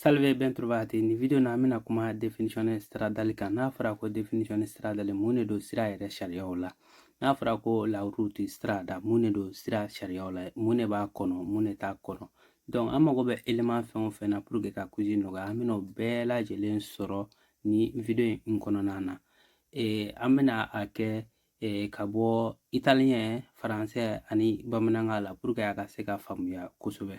Salve ben trovati ni video na an bɛna kuma definition stradale kan n'a fɔra ko definition stradale mun de don sira yɛrɛ sariyaw la n'a fɔra ko la route strada mun de don sira sariyaw la mun de b'a kɔnɔ mun de t'a kɔnɔ donc an mago bɛ element fɛn o fɛn na pour que ka quiz nɔgɔya an bɛna o bɛɛ lajɛlen sɔrɔ ni video in kɔnɔna na e, an bɛna a kɛ e, ka bɔ italien français ani bamanankan la pour que a ka se ka faamuya kosɛbɛ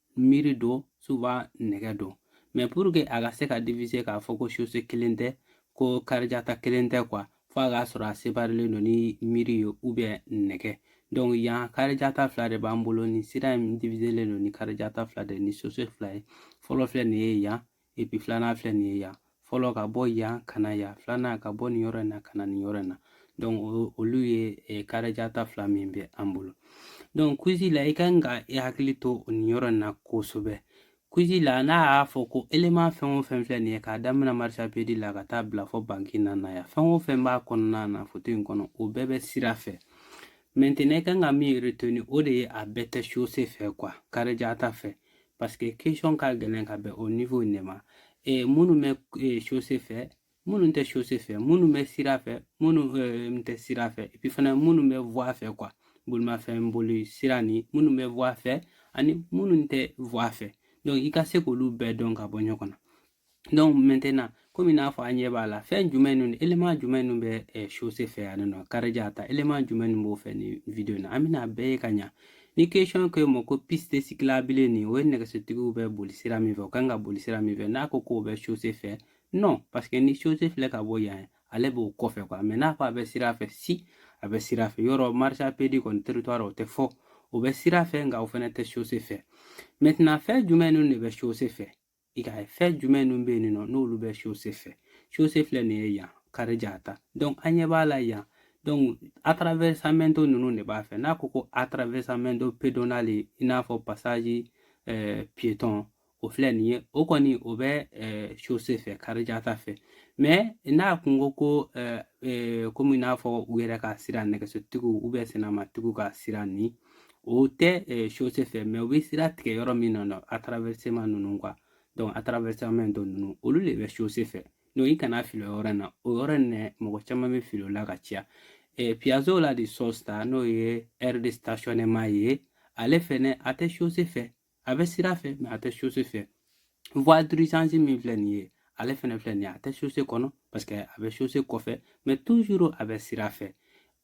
mur don souvent nɛgɛ don mais pour que a ka se ka divise k'a fɔ ko chaussée kelen tɛ ko carreggiata kelen tɛ quoi fo a k'a sɔrɔ a separilen don ni mur ye ou bien nɛgɛ donc yan carreggiata fila de b'an bolo ni sira in diviselen don ni carreggiata fila de ni chaussée fila ye fɔlɔ filɛ nin ye yan et puis filanan filɛ nin ye yan fɔlɔ ka bɔ yan ka na yan filanan ka bɔ nin yɔrɔ in na ka na nin yɔrɔ in na donc olu ye eh, carreggiata fila min bɛ an bolo donc quiz la i ka kan ka i hakili to nin yɔrɔ in na kosɛbɛ quiz la n'a y'a fɔ ko élément fɛn o fɛn filɛ nin ye k'a daminɛ marciapiede la ka taa bila fo banchina na yan fɛn o fɛn b'a kɔnɔna na foto in kɔnɔ o bɛɛ bɛ sira fɛ maintenant i ka kan ka min retenu o de ye a bɛɛ tɛ chaussée fɛ quoi carreggiata fɛ parce que question ka gɛlɛn ka bɛn o niveau in de ma ee minnu bɛ ee chaussée fɛ minnu tɛ chaussée fɛ minnu bɛ sira fɛ minnu ee tɛ sira fɛ et puis fana minnu bɛ voie fɛ quoi bolimafɛn boli sira ni minnu bɛ voie fɛ ani minnu tɛ voie fɛ donc i ka se k'olu bɛɛ dɔn ka bɔ ɲɔgɔn na donc maintenant komi n'a fɔ an ɲɛ b'a la fɛn jumɛn ninnu élément jumɛn ninnu bɛ ɛ chaussée fɛ yan nɔ carreggiata élément jumɛn ninnu b'o fɛ nin video in na an bɛna bɛɛ ye ka ɲa ni question k'i ma ko piste cyclable nin o ye nɛgɛsotigiw bɛ boli sira min fɛ u kan ka boli sira min fɛ n'a ko k'o bɛ chaussée fɛ non parce que ni chaussée filɛ ka bɔ yan ale b'o kɔfɛ quoi mais n'a ko a bɛ sira fɛ si a bɛ sira fɛ yɔrɔ marciapiede kɔni trottoir o tɛ fɔ o bɛ sira fɛ nka o fana tɛ chaussée fɛ maintenant fɛn jumɛn ninnu de bɛ chaussée fɛ i ka fɛn jumɛn ninnu bɛ yen nɔ n'olu bɛ chaussée fɛ chaussée filɛ nin ye yan carreggiata donc an ɲɛ b'a la yan donc attraversamento ninnu de b'a fɛ n'a ko ko attraversamento pedonale i n'a fɔ passage eh, piéton o filɛ nin ye o kɔni o bɛ eh, chaussée fɛ carreggiata fɛ mais n'a kun ko ko eh, eh, komi i n'a fɔ u yɛrɛ ka sira nɛgɛsotigiw ou bien sennamatigiw ka sira ni o tɛ chaussée fɛ mais u bɛ sira tigɛ yɔrɔ min na nɔ attraversamento ninnu quoi donc attraversamento ninnu olu de bɛ chaussée fɛ donc i kana fili o yɔrɔ in na o yɔrɔ in na mɔgɔ caman bɛ fili o la ka caya piazzola di sosta n'o ye aire de stationnement ye ale fɛnɛ a tɛ chaussée fɛ a bɛ sira fɛ mais a tɛ chaussée fɛ voie d'urgence min filɛ nin ye ale fɛnɛ filɛ nin ye a tɛ chaussée kɔnɔ parce que a bɛ chaussée kɔfɛ mais toujours a bɛ sira fɛ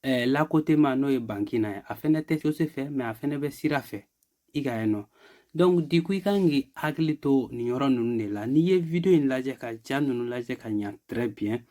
eh, l'accotement n'o ye banchina ye a fɛnɛ tɛ chaussée fɛ mais a fɛnɛ bɛ sira fɛ i k'a ye non donc du coup i kan k'i hakili to nin yɔrɔ ninnu de la n'i ye video in lajɛ ka ja ninnu lajɛ ka ɲa très bien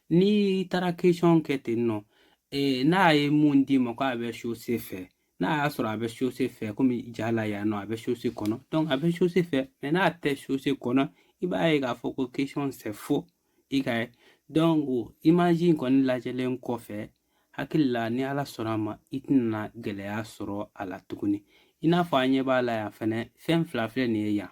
n'i taara question kɛ ten non eh, n'a ye mun d'i ma ko a bɛ chaussée fɛ n'a y'a sɔrɔ a bɛ chaussée fɛ comme ja la yan non a bɛ chaussée kɔnɔ donc a bɛ chaussée fɛ mais n'a tɛ chaussée kɔnɔ i b'a ye k'a fɔ ko question c'est faux i k'a ye donc image in kɔni lajɛlen kɔfɛ hakili la ni ala sɔnna a ma i tɛna gɛlɛya sɔrɔ a la tuguni i n'a fɔ an ɲɛ b'a la yan fɛnɛ fɛn fila filɛ nin ye yan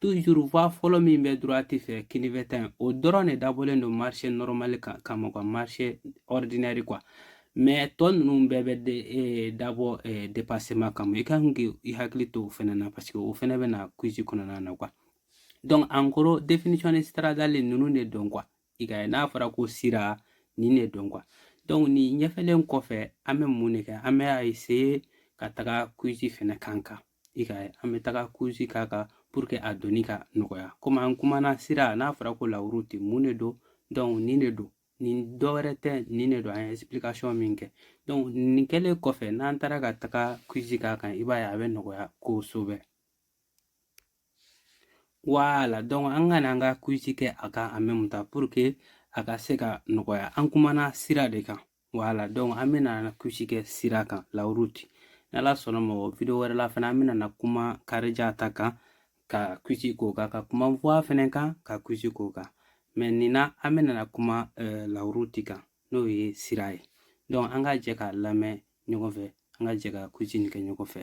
toujours voie fɔlɔ min bɛ droite fɛ kinifɛ ta in o dɔrɔn de dabɔlen don marche normale kama quoi marche ordinaire quoi mais tɔ ninnu bɛɛ bɛ de e, dabɔ e, dépassement kama i kan k'i i hakili to o fɛnɛ na parce que o fɛnɛ bɛ na quiz kɔnɔna na quoi donc en gros définition de stradale ninnu de don quoi i k'a ye n'a fɔra ko sira nin de don quoi donc nin ɲɛfɛlen kɔfɛ an bɛ mun de kɛ an bɛ a essayer ka taga quiz fɛnɛ k'a kan i ka an bɛ taga quiz k'a kan pour que a donni ka nɔgɔya comme an kumana sira n'a fɔra ko la route mun de don donc nin de don nin dɔ wɛrɛ tɛ nin de don an ye explication min kɛ donc nin kɛlen kɔfɛ n'an taara ka taga quiz k'a kan i b'a ye a bɛ nɔgɔya kosɛbɛ voilà donc an ka na an ka quiz kɛ a kan en même temps pour que a ka se ka nɔgɔya an kumana sira de kan voilà donc an bɛna na quiz kɛ sira kan la route n'ala sɔnna ma o video wɛrɛ la fana an bɛna na kuma carreggiata kan ka quiz k'o kan ka kuma voie fɛnɛ kan ka quiz k'o kan mais nin na an bɛna na kuma euh, la route kan n'o ye sira ye donc an ka jɛ k'a lamɛn ɲɔgɔn fɛ an ka jɛ ka quiz nin kɛ ɲɔgɔn fɛ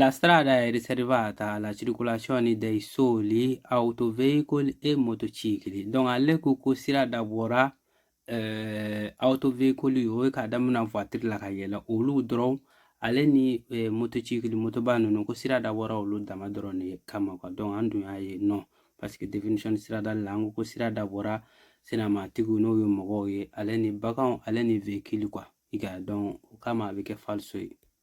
La strada è riservata alla circolazione dei soli autoveicoli e motocicli. Donc ale ko ko sira dabɔra eh, autoveicoli o ye k'a damina voiture la ka yɛlɛ olu dɔrɔn ale ni eh, motocicli motoba ninnu ko sira dabɔra olu dama dɔrɔn de kama quoi. Donc an dun y'a ye non parce que définition strada la an ko ko sira dabɔra senamatigiw n'o ye mɔgɔw ye ale ni baganw ale ni véhicule quoi i ka donc o kama a bɛ kɛ falso ye.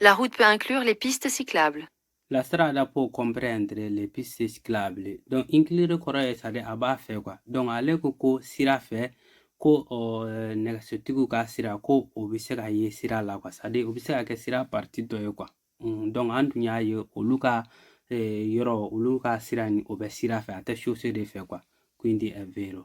La route peut inclure les pistes cyclables. La strada può comprendere le piste ciclabili. Donc, inclure kɔrɔ ye c'est-à-dire a b'a fɛ quoi. Donc, ale ko ko sira fɛ ko euh, nɛgɛsotigiw ka sira ko o bɛ se ka ye sira la quoi. C'est-à-dire o bɛ se ka kɛ sira partie dɔ ye quoi. Mm, donc, an tun y'a ye olu ka eh, yɔrɔ olu ka sira nin o bɛ sira fɛ a tɛ chaussée de fɛ quoi. Quindi è vero.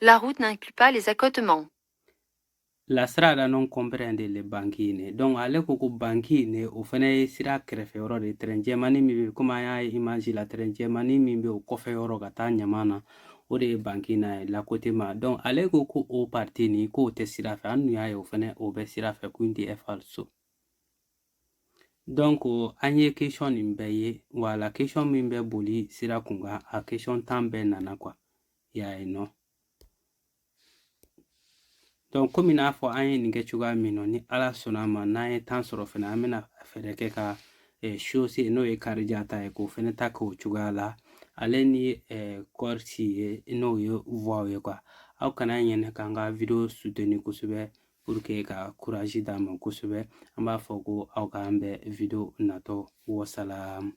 La route n'inclut pas les accotements. La strada non comprende le banchine. Donc ale ko ko banchine o fana ye sira kɛrɛfɛ yɔrɔ de trait jɛmani min bɛ komi an y'a ye image la trait jɛmani min bɛ o kɔfɛ yɔrɔ ka taa ɲama na o de ye banchina ye l'accotement donc ale ko ko o partie nin k'o tɛ sira fɛ an dun y'a ye o fana o bɛ sira fɛ quindi falso. Donc an ye question nin bɛɛ ye voilà question min bɛ boli sira kun kan a question tan bɛɛ nana quoi y'a ye non donc komi n'a fɔ an ye nin kɛ cogoya min na ni ala sɔnna ma n'an ye temps sɔrɔ fɛnɛ an bɛna fɛɛrɛ kɛ ka chaussée, n'o ye carreggiata ye k'o fɛnɛ ta k'o cogoya la ale ni eh, corsie n'o ye voiew ye quoi aw kana ɲinɛ k'an ka video soutenir kosɛbɛ ka courage d'an ma kosɛbɛ an b'a fɔ ko aw k'an bɛn video natɔ wasalam